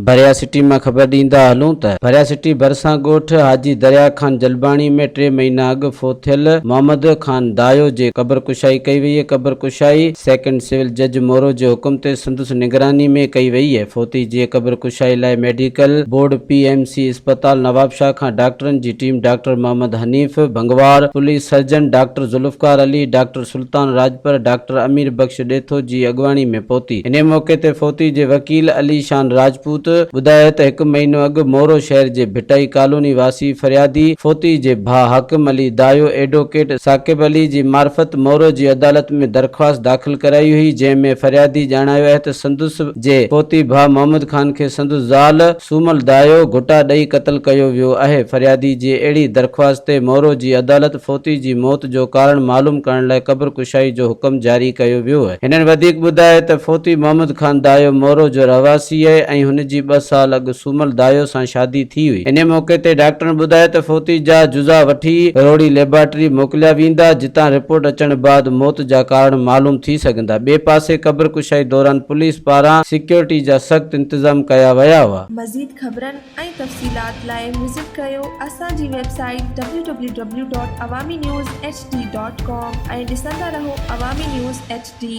ڀريا city مان خبر ڏيندا هلون ته ڀريا سٽي ڀرسان ڳوٺ حاجي دريا خان جلباڻي ۾ ٽي مهينا اڳ فوت ٿيل محمد خان دايو جي قبر ڪشائي ڪئي وئي قبر ڪشائي سيڪنڊ سول جج مورو جي حڪم تي سنڌ نگراني ۾ ڪئي وئي اهي فوتي جي قبر ڪشائي لاء medical board P M C اسپتال نوابشاهه کان ڊاڪٽرن جي team doctor Muhammad Hanif Bhangwar police surgeon doctor Zulfiqar Ali doctor Sultan Rajpar doctor Amir Bakhsh Detho جي اڳواڻي ۾ پهتي انهي موقعي تي فوتي جي وڪيل علي شان راجپوت ٻڌايو ته هڪ مهينو اڳ مورو شهر جي ڀٽائي ڪالوني واسي فريادي فوتي جي ڀاء حاڪم علي دايو ايڊوڪيٽ ثاقب علي جي معرفت مورو جي عدالت ۾ درخواست داخل ڪرائي هئي، جنهن ۾ فريادي ڄاڻايو آهي ته سندس جي پوتي ڀاء محمد خان کي سندس زال سومل دايو گهٽا ڏئي قتل ڪيو ويو آهي، فريادي جي اهڙي درخواست تي مورو جي عدالت فوتي جي موت جو ڪارڻ معلوم ڪرڻ لاء قبر ڪشائي جو حڪم جاري ڪيو ويو. هنن وڌيڪ ٻڌايو ته فوتي محمد خان دايو مورو جو رهواسي آهي ۽ هن جي ٻه سال اڳ سومل دايو سان شادي ٿي هئي، انهي موقعي تي ڊاڪٽرن ٻڌايو ته فوتي جا جزا وٺي روهڙي ليبارٽري موڪليا ويندا، جتان رپورٽ اچڻ بعد موت جا ڪارڻ معلوم ٿي سگهندا. ٻئي پاسي قبر ڪشائي دوران پوليس پاران سيڪيورٽي جا سخت انتظام ڪيا ويا هئا. مزيد خبرن ۽ تفصيلات لاء وزٽ ڪريو اسان جي website W W W dot Awami news H D dot com ۽ ڏسندا رهو عوامي نيوز ايڇ ڊي.